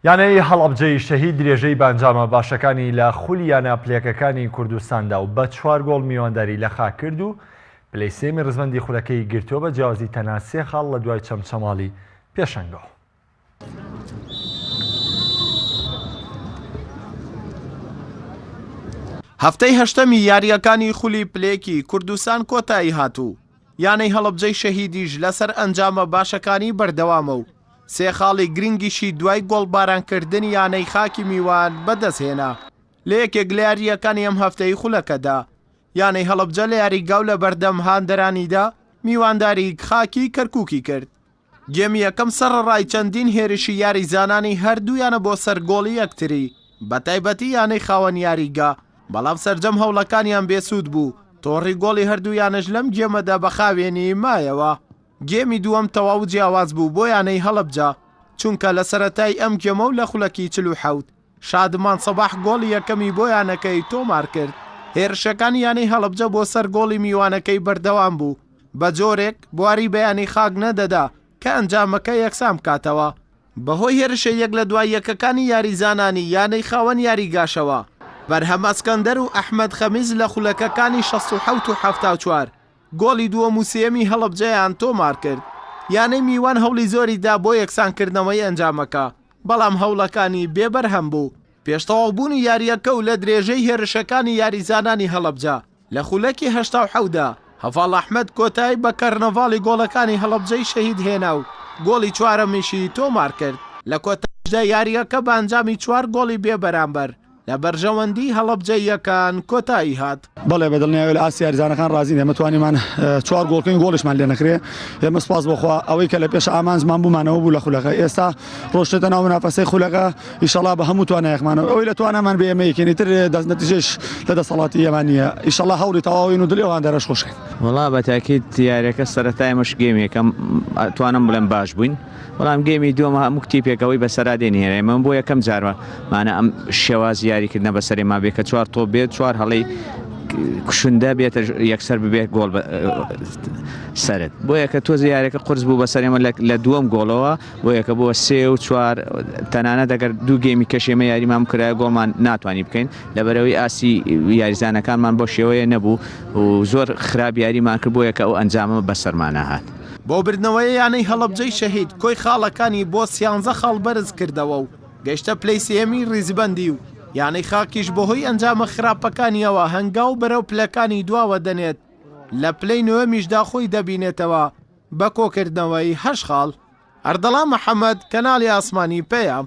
یانەی هەڵەبجەی شەهید درێژەی بە ئەنجامە باشەکانی لە خولی یانە پلەکەکانی کوردستاندا و بە چوار گۆڵ میوانداری لە خاک کرد و پلەی سێمی ڕزبەندی خولەکەی گرتووە بە جیاوازی تەنها سێ خاڵ لە دوای چەمچەماڵی پێشەنگەوە. هەفتەی هەشتەمی یاریەکانی خولی پلێکی کوردستان کۆتایی هاتوو یانەی هەڵبجەی شەهیدیش لەسەر ئەنجامە باشەکانی بەردەوامە و سێ خاڵی گرنگیشی دوای گۆڵبارانکردنی یانەی خاکی میوان بەدەستهێنا لە یەکێک لە یارییەکانی ئەم هەفتەی خولەکەدا، یانەی هەڵەبجە لە یاریگا و لەبەردەم هاندەرانیدا میوانداری خاکی کەرکووکی کرد. گێمی یەکەم سەڕەڕای چەندین هێرشی یاریزانانی هەردوو یانە بۆ سەر گۆڵی یەکتری، بەتایبەتی یانەی خاوەن یاریگا، بەڵام سەرجەم هەوڵەکانیان بێسوود بوو، تۆڕی گۆڵی هەردوو یانەش لەم گێمەدا بە خاوێنی مایەوە. گێمی دووەم تەواو جیاواز بوو بۆ یانەی هەڵەبجە، چونکە لە سەرەتای ئەم گێمە و لە خولەکی چل و حەوت، شادمان سەباح گۆڵی یەکەمی بۆ یانەکەی تۆمارکرد، هێرشەکانی یانەی هەڵەبجە بۆ سەر گۆڵی میوانەکەی بەردەوام بوو، بە جۆرێک بواری بە یانەی خاک نەدەدا کە ئەنجامەکە یەکسان بکاتەوە. بەهۆی هێرشە یەک لە دوای یەکەکانی یاریزانانی یانەی خاوەن یاریگاشەوە، بەرهەم ئەسکەندەر و ئەحمەد خەمیس لە خولەکەکانی شەست و حەوت و حەفتا و چوار، گۆڵی دووەم و سێیەمی هەڵەبجەیان تۆمارکرد، یانەی میوان هەوڵی زۆری دا بۆ یەکسانکردنەوەی ئەنجامەکە، بەڵام هەوڵەکانی بێ بەرهەم بوو. پێش تەواوبوونی یارییەکە و لە درێژەی هێرشەکانی یاریزانانی هەڵەبجە لە خولەکی هەشتا و حەوت دا، هەڤاڵ ئەحمەد کۆتایی بە کەرنەڤاڵی گۆڵەکانی هەڵەبجەی شەهید هێنا و گۆڵی چوارەمیشی تۆمارکرد. لە کۆتاییشدا یارییەکە بە ئەنجامی چوار گۆڵی بێبەرامبەر، لە بەرژەوەندی هەڵەبجەییەکان کۆتایی هات. بەڵێ بە دڵنیایی لە ئاستی یاریزانەکان ڕازین، ئێمە توانیمان چوار گۆڵ بکەین، گۆڵیشمان لێ نەکرێ، ئێمە سوپاس بۆ خوا ئەوەی کە لە پێش ئامانجمان بوومانەوە بوو لە خولەکە، ئێستا ڕۆشتێتە ناو منافەسەی خولەکە، ئیشەڵا بە هەموو توانایەکمانەوە ئەوەی لە توانامان بێ ئێمە یەکێنی تر دەست نەتیجەش لە دەسەڵاتی ئێمە نییە، ئیشەڵا هەوڵی تەواوین و دڵی ئەو هاندەرەش خۆشکەین. وەڵا بە تاکید یاریەکە سەرەتا ئێمەش گێم یەکەم توانم بڵێم باش بووین، بەڵام گێمی دووەم هەموو تیپێک ئەوەی بەسەرا دێنێرە ئێمە بۆ یەکەم جارمە مانە ئەم شێوازی یاریکردنە بەسەرێ ما بێ کە چوار تۆپ بێت چوار هەڵی کوشندە بێتە یەکسەر ببێت گۆڵ سرد بۆ یەکە تۆزی یارەکە قرس بوو بەسەرێمە لە دووەم گۆڵەوە بۆ یەکە بۆ سێ و چوار تەنانە دەگەر دوو گێمی کەشێمە یاریمان کرایە گۆڵمان ناتوانانی بکەین لەبەرەوەی ئاسی یاریزانەکانمان بۆ شێوەیە نەبوو و زۆر خراپ یاریمان کرد بۆ یەکە ئەو ئەنجامە بەسەرمانە هاات. بۆ بردنەوەی یانەی هەڵەبجەی شەهید، کۆی خاڵەکانی بۆ سیانزە خاڵ بەرز کردەوە و گەیشتە پلەی سێیەمی ریزبەندی و یانەی خاکیش بەهۆی ئەنجامە خراپەکانییەوە هەنگاو بەرەو پلەکانی دواوە دەنێت، لە پلەی نۆیەمیشدا خۆی دەبینێتەوە بە کۆکردنەوەی هەشت خاڵ. ئەردەڵان محەمەد، کەناڵی ئاسمانی پەیام.